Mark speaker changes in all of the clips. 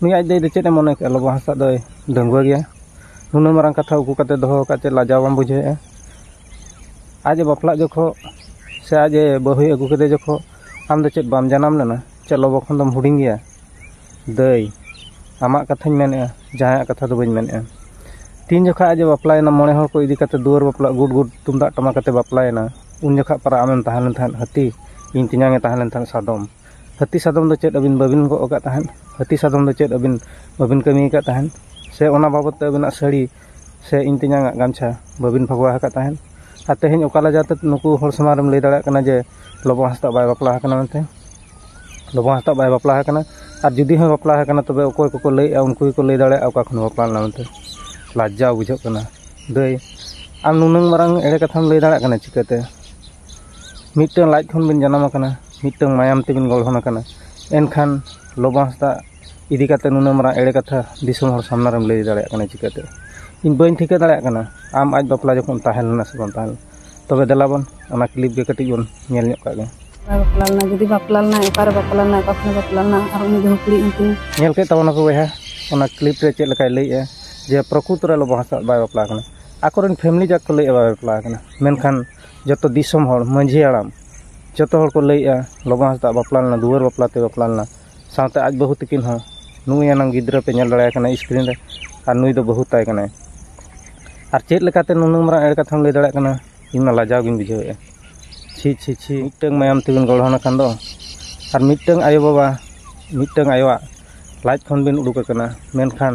Speaker 1: ᱱᱩᱭ ᱟᱡ ᱫᱚ ᱪᱮᱫ ᱮ ᱢᱚᱱᱮ ᱠᱮᱫᱟ ᱞᱚᱵᱚ ᱦᱟᱸᱥᱫᱟᱜ ᱫᱚᱭ ᱰᱟᱺᱜᱩᱣᱟᱹ ᱜᱮᱭᱟ ᱱᱩᱱᱟᱹᱜ ᱢᱟᱨᱟᱝ ᱠᱟᱛᱷᱟ ᱩᱠᱩ ᱠᱟᱛᱮ ᱫᱚᱦᱚ ᱟᱠᱟᱫ ᱪᱮᱫ ᱞᱟᱡᱟᱣ ᱵᱟᱢ ᱵᱩᱡᱷᱟᱹᱣᱮᱫᱼᱟ ᱟᱡ ᱮ ᱵᱟᱯᱞᱟᱜ ᱡᱚᱠᱷᱚᱱ ᱥᱮ ᱟᱡ ᱮ ᱵᱟᱹᱦᱩᱭ ᱟᱹᱜᱩ ᱠᱮᱫᱮ ᱡᱚᱠᱷᱚᱱ ᱟᱢ ᱫᱚ ᱪᱮᱫ ᱵᱟᱢ ᱡᱟᱱᱟᱢ ᱞᱮᱱᱟ ᱪᱮᱫ ᱞᱚᱵᱚ ᱠᱷᱚᱱ ᱫᱚᱢ ᱦᱩᱰᱤᱧ ᱜᱮᱭᱟ ᱫᱟᱹᱭ ᱟᱢᱟᱜ ᱠᱟᱛᱷᱟᱧ ᱢᱮᱱᱮᱫᱼᱟ ᱡᱟᱦᱟᱸᱭᱟᱜ ᱠᱟᱛᱷᱟ ᱫᱚ ᱵᱟᱹᱧ ᱢᱮᱱᱮᱫᱼᱟ ᱛᱤᱱ ᱡᱚᱠᱷᱚᱱ ᱟᱡ ᱮ ᱵᱟᱯᱞᱟᱭᱮᱱᱟ ᱢᱚᱬᱮ ᱦᱚᱲ ᱠᱚ ᱤᱫᱤ ᱠᱟᱛᱮ ᱫᱩᱣᱟᱹᱨ ᱵᱟᱯᱞᱟ ᱜᱩᱰ ᱜᱩᱰ ᱛᱩᱢᱫᱟᱜ ᱴᱟᱢᱟᱠ ᱟᱛᱮ ᱵᱟᱯᱞᱟᱭᱮᱱᱟ ᱩᱱ ᱡᱚᱠᱷᱚᱱ ᱯᱟᱨᱟ ᱟᱢᱮᱢ ᱛᱟᱦᱮᱸ ᱞᱮᱱ ᱛᱟᱦᱮᱸᱫ ᱦᱟᱹᱛᱤ ᱤᱧ ᱛᱮᱧᱟᱝ ᱮ ᱛᱟᱦᱮᱸ ᱞᱮᱱ ᱛᱟᱦᱮᱸᱫ ᱥᱟᱫᱚᱢ ᱦᱟᱹᱛᱤ ᱥᱟᱫᱚᱢ ᱫᱚ ᱪᱮᱫ ᱟᱹᱵᱤᱱ ᱵᱟᱹᱵᱤᱱ ᱜᱚᱜ ᱟᱠᱟᱫ ᱛᱟᱦᱮᱸᱫ ᱦᱟᱹᱛᱤ ᱥᱟᱫᱚᱢ ᱫᱚ ᱪᱮᱫ ᱟᱹᱵᱤᱱ ᱵᱟᱹᱵᱤᱱ ᱠᱟᱹᱢᱤ ᱟᱠᱟᱫ ᱛᱟᱦᱮᱸᱫ ᱥᱮ ᱚᱱᱟ ᱵᱟᱵᱚᱫ ᱛᱮ ᱟᱹᱵᱤᱱᱟᱜ ᱥᱟᱹᱲᱤ ᱥᱮ ᱤᱧ ᱛᱮᱧᱟᱝ ᱟᱜ ᱜᱟᱢᱪᱷᱟ ᱵᱟᱹᱵᱤᱱ ᱵᱷᱚᱜᱚᱣᱟ ᱟᱠᱟᱫ ᱛᱟᱦᱮᱸᱫ ᱟᱨ ᱛᱮᱦᱮᱧ ᱚᱠᱟ ᱞᱮᱠᱟᱛᱮ ᱱᱩᱠᱩ ᱦᱚᱲ ᱥᱟᱢᱟᱝ ᱨᱮᱢ ᱞᱟᱹᱭ ᱫᱟᱲᱮᱭᱟᱜ ᱠᱟᱱᱟ ᱡᱮ ᱞᱚᱵᱚ ᱦᱟᱸᱥᱫᱟ ᱵᱟᱭ ᱵᱟᱯᱞᱟ ᱟᱠᱟᱱᱟ ᱢᱮᱱᱛᱮ ᱞᱚᱵᱚ ᱦᱟᱸᱥᱫᱟ ᱵᱟᱭ ᱵᱟᱯᱞᱟ ᱟᱠᱟᱱᱟ ᱟᱨ ᱡᱩᱫᱤ ᱦᱚᱸᱭ ᱵᱟᱯᱞᱟ ᱟᱠᱟᱱᱟ ᱛᱚᱵᱮ ᱚᱠᱚᱭ ᱠᱚᱠᱚ ᱞᱟᱹᱭᱮᱫᱼᱟ ᱩᱱᱠᱩ ᱜᱮᱠᱚ ᱞᱟᱹᱭ ᱫᱟᱲᱮᱭᱟᱜᱼᱟ ᱚᱠᱟ ᱠᱷᱚᱱᱮ ᱵᱟᱯᱞᱟ ᱞᱮᱱᱟ ᱢᱮᱱᱛᱮ ᱞᱟᱡᱡᱟ ᱵᱩᱡᱷᱟᱹᱜ ᱠᱟᱱᱟ ᱫᱟᱹᱭ ᱟᱢ ᱱᱩᱱᱟᱹᱝ ᱢᱟᱨᱟᱝ ᱮᱲᱮ ᱠᱟᱛᱷᱟᱢ ᱞᱟᱹᱭ ᱫᱟᱲᱮᱭᱟᱜ ᱠᱟᱱᱟ ᱪᱤᱠᱟᱹᱛᱮ ᱢᱤᱫᱴᱟᱝ ᱞᱟᱡ ᱠᱷᱚᱱ ᱵᱤᱱ ᱡᱟᱱᱟᱢ ᱟᱠᱟᱱᱟ ᱢᱤᱫᱴᱟᱝ ᱢᱟᱭᱟᱢ ᱛᱮᱵᱤᱱ ᱜᱚᱲᱦᱚᱱ ᱟᱠᱟᱱᱟ ᱮᱱᱠᱷᱟᱱ ᱞᱚᱵᱚ ᱦᱟᱸᱥᱫᱟ ᱤᱫᱤ ᱠᱟᱛᱮ ᱱᱩᱱᱟᱹᱜ ᱢᱟᱨᱟᱝ ᱮᱲᱮ ᱠᱟᱛᱷᱟ ᱫᱤᱥᱚᱢ ᱦᱚᱲ ᱥᱟᱢᱱᱟ ᱨᱮᱢ ᱞᱟᱹᱭ ᱫᱟᱲᱮᱭᱟᱜ ᱠᱟᱱᱟ ᱪᱤᱠᱟᱹᱛᱮ ᱤᱧ ᱵᱟᱹᱧ ᱴᱷᱤᱠᱟᱹ ᱫᱟᱲᱮᱭᱟᱜ ᱠᱟᱱᱟ ᱟᱢ ᱟᱡ ᱵᱟᱯᱞᱟ ᱡᱚᱠᱷᱚᱱ ᱛᱟᱦᱮᱸ ᱞᱮᱱᱟ ᱥᱮ ᱵᱟᱝ ᱛᱟᱦᱮᱸ ᱞᱮᱱᱟ ᱛᱚᱵᱮ ᱫᱮᱞᱟ ᱵᱚᱱ ᱚᱱᱟ ᱠᱞᱤᱯ ᱜᱮ ᱠᱟᱹᱴᱤᱡ ᱵᱚᱱ ᱧᱮᱞ ᱧᱚᱜ ᱠᱟᱜ ᱜᱮ ᱵᱟᱯᱞᱟ ᱞᱮᱱᱟ ᱡᱩᱫᱤ
Speaker 2: ᱵᱟᱯᱞᱟ ᱞᱮᱱᱟ ᱚᱠᱟᱨᱮ ᱵᱟᱯᱞᱟ ᱞᱮᱱᱟ ᱚᱠᱟ ᱠᱷᱚᱱᱮ ᱵᱟᱯᱞᱟ
Speaker 1: ᱞᱮᱱᱟ ᱟᱨ ᱩᱱᱤ ᱵᱟᱹᱦᱩ ᱠᱩᱲᱤ ᱩᱱᱠᱤᱱ ᱧᱮᱞ ᱠᱮᱫ ᱛᱟᱵᱚᱱᱟ ᱠᱚ ᱵᱚᱭᱦᱟ ᱚᱱᱟ ᱠᱞᱤᱯ ᱨᱮ ᱪᱮᱫ ᱞᱮᱠᱟᱭ ᱞᱟᱹᱭᱮᱜᱼᱟ ᱡᱮ ᱯᱨᱚᱠᱩᱛ ᱨᱮ ᱞᱚᱵᱚ ᱦᱟᱸᱥᱫᱟ ᱵᱟᱭ ᱵᱟᱯᱞᱟ ᱟᱠᱟᱱᱟ ᱟᱠᱚᱨᱮᱱ ᱯᱷᱮᱢᱞᱤ ᱡᱟᱠ ᱠᱚ ᱞᱟᱹᱭᱮᱜᱼᱟ ᱵᱟᱭ ᱵᱟᱯᱞᱟ ᱟᱠᱟᱱᱟ ᱢᱮᱱᱠᱷᱟᱱ ᱡᱚᱛᱚ ᱫᱤᱥᱚᱢ ᱦᱚᱲ ᱢᱟᱹᱡᱷᱤ ᱦᱟᱲᱟᱢ ᱡᱚᱛᱚ ᱦᱚᱲ ᱠᱚ ᱞᱟᱹᱭᱮᱜᱼᱟ ᱞᱚᱵᱚ ᱦᱟᱸᱥᱫᱟᱜ ᱵᱟᱯᱞᱟ ᱞᱮᱱᱟ ᱫᱩᱣᱟᱹᱨ ᱵᱟᱯᱞᱟ ᱛᱮ ᱵᱟᱯᱞᱟ ᱞᱮᱱᱟ ᱥᱟᱶᱛᱮ ᱟᱡ ᱵᱟᱹᱦᱩ ᱛᱟᱹᱠᱤᱱ ᱦᱚᱸ ᱱᱩᱭ ᱮᱱᱟᱝ ᱜᱤᱫᱽᱨᱟᱹ ᱯᱮ ᱧᱮᱞ ᱫᱟᱲᱮᱭᱟᱭ ᱠᱟᱱᱟ ᱥᱠᱨᱤᱱ ᱨᱮ ᱟᱨ ᱱᱩᱭ ᱫᱚ ᱵᱟᱹᱦᱩ ᱛᱟᱭ ᱠᱟᱱᱟᱭ ᱟᱨ ᱪᱮᱫ ᱞᱮᱠᱟᱛᱮ ᱱᱩᱱᱟᱹᱜ ᱢᱟᱨᱟᱝ ᱮᱲᱮ ᱠᱟᱛᱷᱟᱢ ᱞᱟᱹᱭ ᱫᱟᱲᱮᱭᱟᱜ ᱠᱟᱱᱟ ᱤᱧ ᱢᱟ ᱞᱟᱡᱟᱣ ᱜᱤᱧ ᱵᱩᱡᱷᱟᱹᱣᱮᱜᱼᱟ ᱪᱷᱤ ᱪᱷᱤ ᱪᱷᱤ ᱢᱤᱫᱴᱟᱹᱝ ᱢᱟᱭᱟᱢ ᱛᱮᱵᱤᱱ ᱜᱚᱲᱦᱚᱱ ᱟᱠᱟᱱ ᱫᱚ ᱟᱨ ᱢᱤᱫᱴᱟᱹᱝ ᱟᱭᱳᱼᱵᱟᱵᱟ ᱢᱤᱫᱴᱟᱹᱝ ᱟᱭᱳᱣᱟᱜ ᱞᱟᱡ ᱠᱷᱚᱱ ᱵᱤᱱ ᱩᱰᱩᱠ ᱟᱠᱟᱱᱟ ᱢᱮᱱᱠᱷᱟᱱ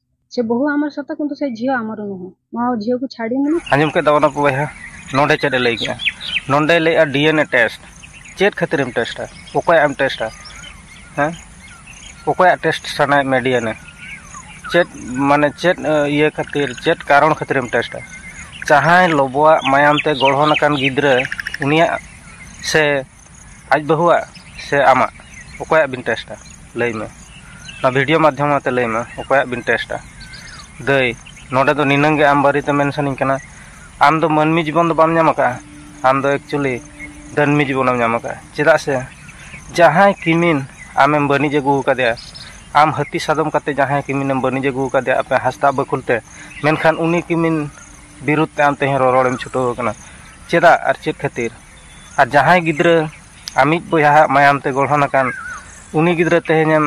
Speaker 2: ᱥᱮ ᱵᱚᱦᱩ ᱟᱢᱟᱨ ᱥᱟᱛᱟ ᱠᱤᱱᱛᱩ ᱥᱮ ᱡᱤᱭᱚ ᱟᱢᱟᱨ ᱱᱚᱦᱚ ᱱᱚᱣᱟ ᱡᱤᱭᱚ ᱠᱚ ᱪᱷᱟᱲᱤ ᱢᱩᱱᱟ ᱟᱸᱡᱚᱢ ᱠᱮᱫ ᱫᱟᱵᱚᱱᱟ ᱵᱚᱭᱦᱟ
Speaker 1: ᱱᱚᱰᱮ ᱪᱮᱫ ᱞᱟᱹᱭ ᱠᱮᱫᱟ ᱱᱚᱰᱮ ᱞᱟᱹᱭᱟ ᱰᱤᱮᱱᱮ ᱴᱮᱥᱴ ᱪᱮᱫ ᱠᱷᱟᱹᱛᱤᱨ ᱮᱢ ᱴᱮᱥᱴᱟ ᱚᱠᱚᱭ ᱮᱢ ᱴᱮᱥᱴᱟ ᱦᱮᱸ ᱚᱠᱚᱭ ᱴᱮᱥᱴ ᱥᱟᱱᱟᱭ ᱢᱮ ᱰᱤᱮᱱᱮ ᱪᱮᱫ ᱢᱟᱱᱮ ᱪᱮᱫ ᱤᱭᱟᱹ ᱠᱷᱟᱹᱛᱤᱨ ᱪᱮᱫ ᱠᱟᱨᱚᱱ ᱠᱷᱟᱹᱛᱤᱨ ᱮᱢ ᱴᱮᱥᱴᱟ ᱡᱟᱦᱟᱸᱭ ᱞᱚᱵᱚᱣᱟᱜ ᱢᱟᱭᱟᱢ ᱛᱮ ᱜᱚᱲᱦᱚᱱ ᱟᱠᱟᱱ ᱜᱤᱫᱽᱨᱟᱹ ᱩᱱᱤᱭᱟᱜ ᱥᱮ ᱟᱡ ᱵᱟᱹᱦᱩᱣᱟᱜ ᱥᱮ ᱟᱢᱟᱜ ᱚᱠᱚᱭᱟᱜ ᱵᱤᱱ ᱴᱮᱥᱴᱟ ᱞᱟᱹᱭ ᱢᱮ ᱱᱚᱣᱟ ᱵᱷᱤᱰᱤᱭᱳ ᱢᱟᱫᱽᱫᱷᱚᱢ ᱟᱛᱮ ᱞᱟᱹᱭ ᱢᱮ ᱚᱠᱚᱭᱟᱜ ᱵᱤᱱ ᱴᱮᱥᱴᱟ ᱫᱟᱹᱭ ᱱᱚᱰᱮ ᱫᱚ ᱱᱤᱱᱟᱹᱝ ᱜᱮ ᱟᱢ ᱵᱟᱨᱮᱛᱮ ᱢᱮᱱ ᱥᱟᱱᱟᱧ ᱠᱟᱱᱟ ᱟᱢ ᱫᱚ ᱢᱟᱹᱱᱢᱤ ᱡᱤᱵᱚᱱ ᱫᱚ ᱵᱟᱢ ᱧᱟᱢ ᱟᱠᱟᱫᱼᱟ ᱟᱢ ᱫᱚ ᱮᱠᱪᱩᱞᱤ ᱫᱟᱹᱱᱢᱤ ᱡᱤᱵᱚᱱᱮᱢ ᱧᱟᱢ ᱟᱠᱟᱫᱼᱟ ᱪᱮᱫᱟᱜ ᱥᱮ ᱡᱟᱦᱟᱸᱭ ᱠᱤᱢᱤᱱ ᱟᱢᱮᱢ ᱵᱟᱹᱱᱤᱡ ᱟᱹᱜᱩ ᱟᱠᱟᱫᱮᱭᱟ ᱟᱢ ᱦᱟᱹᱛᱤ ᱥᱟᱫᱚᱢ ᱠᱟᱛᱮ ᱡᱟᱦᱟᱸᱭ ᱠᱤᱢᱤᱱᱮᱢ ᱵᱟᱹᱱᱤᱡ ᱟᱹᱜᱩ ᱟᱠᱟᱫᱮᱭᱟ ᱟᱯᱮ ᱦᱟᱸᱥᱫᱟ ᱵᱟᱹᱠᱷᱩᱞ ᱛᱮ ᱢᱮᱱᱠᱷᱟᱱ ᱩᱱᱤ ᱠᱤᱢᱤᱱ ᱵᱤᱨᱩᱫᱷ ᱛᱮ ᱟᱢ ᱛᱮᱦᱮᱧ ᱨᱚᱨᱚᱲᱮᱢ ᱪᱷᱩᱴᱟᱹᱣ ᱟᱠᱟᱱᱟ ᱪᱮᱫᱟᱜ ᱟᱨ ᱪᱮᱫ ᱠᱷᱟᱹᱛᱤᱨ ᱟᱨ ᱡᱟᱦᱟᱸᱭ ᱜᱤᱫᱽᱨᱟᱹ ᱟᱢᱤᱡ ᱵᱚᱭᱦᱟᱣᱟᱜ ᱢᱟᱭᱟᱢ ᱛᱮ ᱜᱚᱲᱦᱚᱱ ᱟᱠᱟᱱ ᱩᱱᱤ ᱜᱤᱫᱽᱨᱟᱹ ᱛᱮᱦᱮᱧᱮᱢ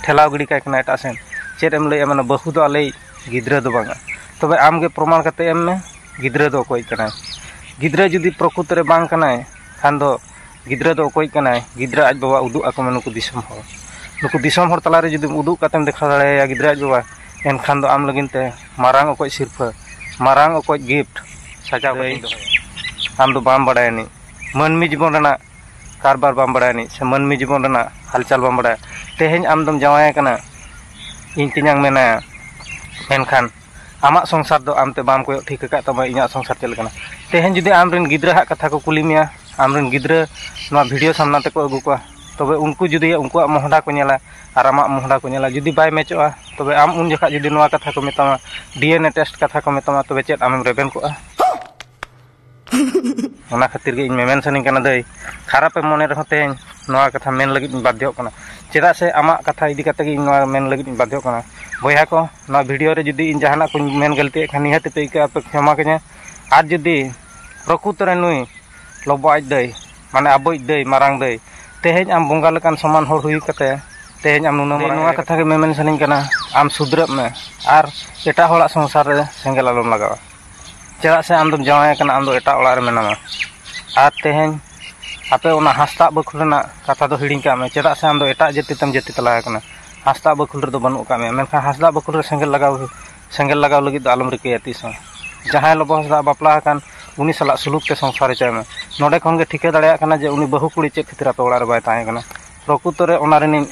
Speaker 1: ᱴᱷᱮᱞᱟᱣ ᱜᱤᱰᱤ ᱠᱟᱭ ᱠᱟᱱᱟ ᱮᱴᱟᱜ ᱥᱮᱱ ᱪᱮᱫ ᱮᱢ ᱞᱟᱹᱭᱟ ᱢᱟᱱᱮ ᱵᱟᱹᱦᱩ ᱫᱚ ᱟᱞᱮᱭᱤᱡ ᱜᱤᱫᱽᱨᱟᱹ ᱫᱚ ᱵᱟᱝᱟ ᱛᱚᱵᱮ ᱟᱢ ᱜᱮ ᱯᱨᱚᱢᱟᱬ ᱠᱟᱛᱮ ᱮᱢ ᱢᱮ ᱜᱤᱫᱽᱨᱟᱹ ᱫᱚ ᱚᱠᱚᱭᱤᱡ ᱠᱟᱱᱟᱭ ᱜᱤᱫᱽᱨᱟᱹ ᱡᱩᱫᱤ ᱯᱨᱚᱠᱩᱛ ᱨᱮ ᱵᱟᱝ ᱠᱟᱱᱟᱭ ᱠᱷᱟᱱ ᱫᱚ ᱜᱤᱫᱽᱨᱟᱹ ᱫᱚ ᱚᱠᱚᱭᱤᱡ ᱠᱟᱱᱟᱭ ᱜᱤᱫᱽᱨᱟᱹ ᱟᱡ ᱵᱟᱵᱟ ᱩᱫᱩᱜ ᱟᱠᱚ ᱢᱮ ᱱᱩᱠᱩ ᱫᱤᱥᱚᱢ ᱦᱚᱲ ᱱᱩᱠᱩ ᱫᱤᱥᱚᱢ ᱦᱚᱲ ᱛᱟᱞᱟ ᱨᱮ ᱡᱩᱫᱤ ᱩᱫᱩᱜ ᱠᱟᱛᱮᱢ ᱫᱮᱠᱷᱟᱣ ᱫᱟᱲᱮᱭᱟᱭᱟ ᱜᱤᱫᱽᱨᱟᱹ ᱟᱡ ᱵᱟᱵᱟ ᱮᱱᱠᱷᱟᱱ ᱫᱚ ᱟᱢ ᱞᱟᱹᱜᱤᱫ ᱛᱮ ᱢᱟᱨᱟᱝ ᱚᱠᱚᱡ ᱥᱤᱨᱯᱷᱟᱹ ᱢᱟᱨᱟᱝ ᱚᱠᱚᱡ ᱜᱤᱯᱷᱴ ᱥᱟᱡᱟᱣ ᱠᱟᱛᱮᱧ ᱫᱚᱦᱚᱭᱟ ᱟᱢ ᱫᱚ ᱵᱟᱢ ᱵᱟᱲᱟᱭᱟ ᱟᱹᱱᱤᱡ ᱢᱟᱹᱱᱢᱤ ᱡᱤᱵᱚᱱ ᱨᱮᱱᱟᱜ ᱠᱟᱨᱵᱟᱨ ᱵᱟᱢ ᱵᱟᱲᱟᱭᱟ ᱟᱹᱱᱤᱡ ᱥᱮ ᱢᱟᱹᱱᱢᱤ ᱡᱤᱵᱚᱱ ᱨᱮᱱᱟᱜ ᱦᱟᱞᱪᱟᱞ ᱵᱟᱢ ᱵᱟᱲᱟᱭᱟ ᱛᱮᱦᱮᱧ ᱟᱢ ᱫᱚᱢ ᱡᱟᱶᱟᱭ ᱟᱠᱟᱱᱟ ᱤᱧ ᱛᱮᱧᱟᱝ ᱢᱮᱱᱟᱭᱟ ᱢᱮᱱᱠᱷᱟᱱ ᱟᱢᱟᱜ ᱥᱚᱝᱥᱟᱨ ᱫᱚ ᱟᱢ ᱛᱮ ᱵᱟᱢ ᱠᱚᱭᱚᱜ ᱴᱷᱤᱠ ᱟᱠᱟᱫ ᱛᱟᱢᱟ ᱤᱧᱟᱹᱜ ᱥᱚᱝᱥᱟᱨ ᱪᱮᱫ ᱞᱮᱠᱟᱱᱟ ᱛᱮᱦᱮᱧ ᱡᱩᱫᱤ ᱟᱢ ᱨᱮᱱ ᱜᱤᱫᱽᱨᱟᱹ ᱦᱟᱸᱜ ᱠᱟᱛᱷᱟ ᱠᱚ ᱠᱩᱞᱤ ᱢᱮᱭᱟ ᱟᱢ ᱨᱮᱱ ᱜᱤᱫᱽᱨᱟᱹ ᱱᱚᱣᱟ ᱵᱷᱤᱰᱭᱳ ᱥᱟᱢᱱᱟ ᱛᱮᱠᱚ ᱟᱹᱜᱩ ᱠᱚᱣᱟ ᱛᱚᱵᱮ ᱩᱱᱠᱩ ᱡᱩᱫᱤ ᱩᱱᱠᱩᱣᱟᱜ ᱢᱚᱦᱰᱟ ᱠᱚ ᱧᱮᱞᱟ ᱟᱨ ᱟᱢᱟᱜ ᱢᱚᱦᱰᱟ ᱠᱚ ᱧᱮᱞᱟ ᱡᱩᱫᱤ ᱵᱟᱭ ᱢᱮᱪᱚᱜᱼᱟ ᱛᱚᱵᱮ ᱟᱢ ᱩᱱ ᱡᱚᱠᱷᱟᱡ ᱡᱩᱫᱤ ᱱᱚᱣᱟ ᱠᱟᱛᱷᱟ ᱠᱚ ᱢᱮᱛᱟᱢᱟ ᱰᱤᱭᱮᱱᱮ ᱴᱮᱥᱴ ᱠᱟᱛᱷᱟ ᱠᱚ ᱢᱮᱛᱟᱢᱟ ᱛᱚᱵᱮ ᱪᱮᱫ ᱟᱢᱮᱢ ᱨᱮᱵᱮᱱ ᱠᱚᱜᱼᱟ ᱚᱱᱟ ᱠᱷᱟᱹᱛᱤᱨ ᱜᱮ ᱤᱧ ᱢᱮᱢᱮᱱ ᱥᱟᱱᱟᱧ ᱠᱟᱱᱟ ᱫᱟᱹᱭ ᱠᱷᱟᱨᱟᱯ ᱮᱢ ᱢᱚᱱᱮ ᱨᱮᱦᱚᱸ ᱛᱮᱦᱮᱧ ᱱᱚᱣᱟ ᱠᱟᱛᱷᱟ ᱢᱮᱱ ᱞᱟᱹᱜᱤᱫ ᱤᱧ ᱵᱟᱫᱽᱫᱷᱚᱜ ᱠᱟᱱᱟ ᱪᱮᱫᱟᱜ ᱥᱮ ᱟᱢᱟᱜ ᱠᱟᱛᱷᱟ ᱤᱫᱤ ᱠᱟᱛᱮ ᱜᱮ ᱤᱧ ᱱᱚᱣᱟ ᱢᱮᱱ ᱞᱟᱹᱜᱤᱫ ᱤᱧ ᱵᱟᱫᱽᱫᱷᱚᱜ ᱠᱟᱱᱟ ᱵᱚᱭᱦᱟ ᱠᱚ ᱱᱚᱣᱟ ᱵᱷᱤᱰᱤᱭᱳ ᱨᱮ ᱡᱩᱫᱤ ᱤᱧ ᱡᱟᱦᱟᱱᱟᱜ ᱠᱚᱧ ᱢᱮᱱ ᱜᱟᱹᱞᱛᱤᱭᱮᱫ ᱠᱷᱟᱱ ᱱᱤᱦᱟᱹᱛ ᱯᱮ ᱟᱹᱭᱠᱟᱹᱣᱟ ᱯᱮ ᱠᱷᱮᱢᱟ ᱠᱟᱹᱧᱟ ᱟᱨ ᱡᱩᱫᱤ ᱯᱨᱚᱠᱩᱛᱚ ᱨᱮ ᱱᱩᱭ ᱞᱚᱵᱚ ᱟᱡ ᱫᱟᱹᱭ ᱢᱟᱱᱮ ᱟᱵᱚᱭᱤᱡ ᱫᱟᱹᱭ ᱢᱟᱨᱟᱝ ᱫᱟᱹᱭ ᱛᱮᱦᱮᱧ ᱟᱢ ᱵᱚᱸᱜᱟ ᱞᱮᱠᱟᱱ ᱥᱚᱢᱟᱱ ᱦᱚᱲ ᱦᱩᱭ ᱠᱟᱛᱮ ᱛᱮᱦᱮᱧ ᱟᱢ ᱱᱩᱱᱟᱹᱜ ᱢᱟᱨᱟᱝ ᱱᱚᱣᱟ ᱠᱟᱛᱷᱟ ᱜᱮ ᱢᱮᱢᱮᱱ ᱥᱟᱱᱟᱧ ᱠᱟᱱᱟ ᱟᱢ ᱥᱩᱫᱷᱨᱟᱹᱜ ᱢᱮ ᱟᱨ ᱮᱴᱟᱜ ᱦᱚᱲᱟᱜ ᱥᱚᱝᱥᱟᱨ ᱨᱮ ᱥᱮᱸᱜᱮᱞ ᱟᱞᱚᱢ ᱞᱟᱜᱟᱣᱟ ᱪᱮᱫᱟᱜ ᱥᱮ ᱟᱢ ᱫᱚᱢ ᱡᱟᱶᱟᱭ ᱟᱠᱟᱱᱟ ᱟᱢ ᱫᱚ ᱮᱴᱟᱜ ᱚᱲᱟᱜ ᱨᱮ ᱢᱮᱱᱟᱢᱟ ᱟᱨ ᱛᱮᱦᱮᱧ ᱟᱯᱮ ᱚᱱᱟ ᱦᱟᱸᱥᱫᱟ ᱵᱟᱹᱠᱷᱩᱞ ᱨᱮᱱᱟᱜ ᱠᱟᱛᱷᱟ ᱫᱚ ᱦᱤᱲᱤᱧ ᱠᱟᱜ ᱢᱮ ᱪᱮᱫᱟᱜ ᱥᱮ ᱟᱢ ᱫᱚ ᱮᱴᱟᱜ ᱡᱟᱹᱛᱤ ᱛᱮᱢ ᱡᱟᱹᱛᱤ ᱛᱟᱞᱟ ᱟᱠᱟᱱᱟ ᱦᱟᱸᱥᱫᱟ ᱵᱟᱹᱠᱷᱩᱞ ᱨᱮᱫᱚ ᱵᱟᱹᱱᱩᱜ ᱠᱟᱜ ᱢᱮᱭᱟ ᱢᱮᱱᱠᱷᱟᱱ ᱦᱟᱸᱥᱫᱟ ᱵᱟᱹᱠᱷᱩᱞ ᱨᱮ ᱥᱮᱸᱜᱮᱞ ᱞᱟᱜᱟᱣ ᱥᱮᱸᱜᱮᱞ ᱞᱟᱜᱟᱣ ᱞᱟᱹᱜᱤᱫ ᱫᱚ ᱟᱞᱚᱢ ᱨᱤᱠᱟᱹᱭᱟ ᱛᱤᱥ ᱦᱚᱸ ᱡᱟᱦᱟᱸᱭ ᱞᱚᱵᱚ ᱦᱟᱸᱥᱫᱟ ᱵᱟᱯᱞᱟ ᱟᱠᱟᱱ ᱩᱱᱤ ᱥᱟᱞᱟᱜ ᱥᱩᱞᱩᱠ ᱛᱮ ᱥᱚᱝᱥᱟᱨ ᱦᱚᱪᱚᱭ ᱢᱮ ᱱᱚᱰᱮ ᱠᱷᱚᱱ ᱜᱮ ᱴᱷᱤᱠᱟᱹ ᱫᱟᱲᱮᱭᱟᱜ ᱠᱟᱱᱟ ᱡᱮ ᱩᱱᱤ ᱵᱟᱹᱦᱩ ᱠᱩᱲᱤ ᱪᱮᱫ ᱠᱷᱟᱹᱛᱤᱨ ᱟᱯᱮ ᱚᱲᱟᱜ ᱨᱮ ᱵᱟᱭ ᱛᱟᱦᱮᱸ ᱠᱟᱱᱟ ᱯᱨᱚᱠᱩᱛᱚ ᱨᱮ ᱚᱱᱟ ᱨᱤᱱᱤᱡ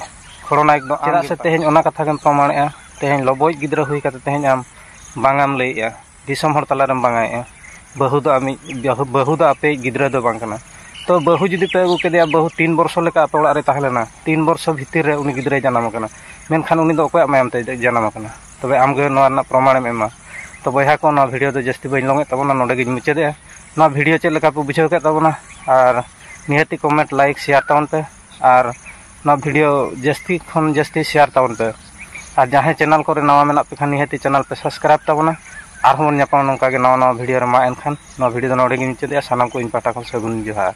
Speaker 1: ᱠᱷᱚᱲᱚᱱᱟᱭᱚᱠ ᱫᱚ ᱪᱮᱫᱟᱜ ᱥᱮ ᱛᱮᱦᱮᱧ ᱚᱱᱟ ᱠᱟᱛᱷᱟ ᱜᱮᱢ ᱯᱨᱚᱢᱟᱬᱮᱜᱼᱟ ᱛᱮᱦᱮᱧ ᱞᱚᱵᱚᱭᱤᱡ ᱜᱤᱫᱽᱨᱟᱹ ᱦᱩᱭ ᱠᱟᱛᱮ ᱛᱮᱦᱮᱧ ᱟᱢ ᱵᱟᱝᱟᱢ ᱞᱟᱹᱭᱮᱜᱼᱟ ᱫᱤᱥᱚᱢ ᱦᱚᱲ ᱛᱟᱞᱟ ᱨᱮᱢ ᱵᱟᱝᱟᱭᱮᱜᱼᱟ ᱵᱟᱹᱦᱩ ᱫᱚ ᱟᱢᱤᱡ ᱵᱟᱹᱦᱩ ᱫᱚ ᱟᱯᱮᱭᱤᱡ ᱜᱤᱫᱽᱨᱟᱹ ᱫᱚ ᱵᱟᱝ ᱠᱟᱱᱟᱭ ᱛᱚ ᱵᱟᱹᱦᱩ ᱡᱩᱫᱤ ᱯᱮ ᱟᱹᱜᱩ ᱠᱮᱫᱮᱭᱟ ᱵᱟᱹᱦᱩ ᱛᱤᱱ ᱵᱚᱨᱥᱚ ᱞᱮᱠᱟ ᱟᱯᱮ ᱚᱲᱟᱜ ᱨᱮᱭ ᱛᱟᱦᱮᱸ ᱞᱮᱱᱟ ᱛᱤᱱ ᱵᱚᱨᱥᱚ ᱵᱷᱤᱛᱤᱨ ᱨᱮ ᱩᱱᱤ ᱜᱤᱫᱽᱨᱟᱹᱭ ᱡᱟᱱᱟᱢ ᱟᱠᱟᱱᱟ ᱢᱮᱱᱠᱷᱟᱱ ᱩᱱᱤ ᱫᱚ ᱚᱠᱚᱭᱟᱜ ᱢᱟᱭᱟᱢ ᱛᱮᱭ ᱡᱟᱱᱟᱢ ᱟᱠᱟᱱᱟ ᱛᱚᱵᱮ ᱟᱢᱜᱮ ᱱᱚᱣᱟ ᱨᱮᱱᱟᱜ ᱯᱨᱚᱢᱟᱬᱮᱢ ᱮᱢᱟ ᱛᱚ ᱵᱚᱭᱦᱟ ᱠᱚ ᱱᱚᱣᱟ ᱵᱷᱤᱰᱤᱭᱳ ᱫᱚ ᱡᱟᱹᱥᱛᱤ ᱵᱟᱹᱧ ᱞᱚᱝᱮᱫ ᱛᱟᱵᱚᱱᱟ ᱱᱚᱰᱮ ᱜᱤᱧ ᱢᱩᱪᱟᱹᱫᱮᱜᱼᱟ ᱱᱚᱣᱟ ᱵᱷᱤᱰᱤᱭᱳ ᱪᱮᱫ ᱞᱮᱠᱟ ᱯᱮ ᱵᱩᱡᱷᱟᱹᱣ ᱠᱮᱫ ᱛᱟᱵᱚᱱᱟ ᱟᱨ ᱱᱤᱦᱟᱹᱛᱤ ᱠᱚᱢᱮᱱᱴ ᱞᱟᱭᱤᱠ ᱥᱮᱭᱟᱨ ᱛᱟᱵᱚᱱ ᱯᱮ ᱟᱨ ᱱᱚᱣᱟ ᱵᱷᱤᱰᱤᱭᱳ ᱡᱟᱹᱥᱛᱤ ᱠᱷᱚᱱ ᱡᱟᱹᱥᱛᱤ ᱥᱮᱭᱟᱨ ᱛᱟᱵᱚᱱ ᱯᱮ ᱟᱨ ᱡᱟᱦᱟᱸᱭ ᱪᱮᱱᱮᱞ ᱠᱚᱨᱮ ᱱᱟᱣᱟ ᱢᱮᱱᱟᱜ ᱯᱮ ᱠᱷᱟᱱ ᱱᱤᱦᱟᱹᱛᱤ ᱪᱮᱱᱮᱞ ᱯᱮ ᱥᱟᱵᱥᱠᱨᱟᱭᱤᱵᱽ ᱛᱟᱵᱚᱱᱟ ᱟᱨᱦᱚᱸ ᱵᱚᱱ ᱧᱟᱯᱟᱢᱟ ᱱᱚᱝᱠᱟ ᱜᱮ ᱱᱟᱣᱟ ᱱᱟᱣᱟ ᱵᱷᱤᱰᱤᱭᱳ ᱨᱮ ᱢᱟ ᱮᱱᱠᱷᱟᱱ ᱱᱚᱣᱟ ᱵᱷᱤᱰᱤᱭᱳ ᱫᱚ ᱱᱚᱰᱮ ᱜᱤᱧ ᱢᱩᱪᱟᱹᱫᱮᱜᱼᱟ ᱥᱟᱱᱟᱢ ᱠᱚ ᱤᱧ ᱯᱟᱦᱴᱟ ᱠᱷᱚᱱ ᱥᱟᱹᱜᱩᱱ ᱡᱚᱦᱟᱨ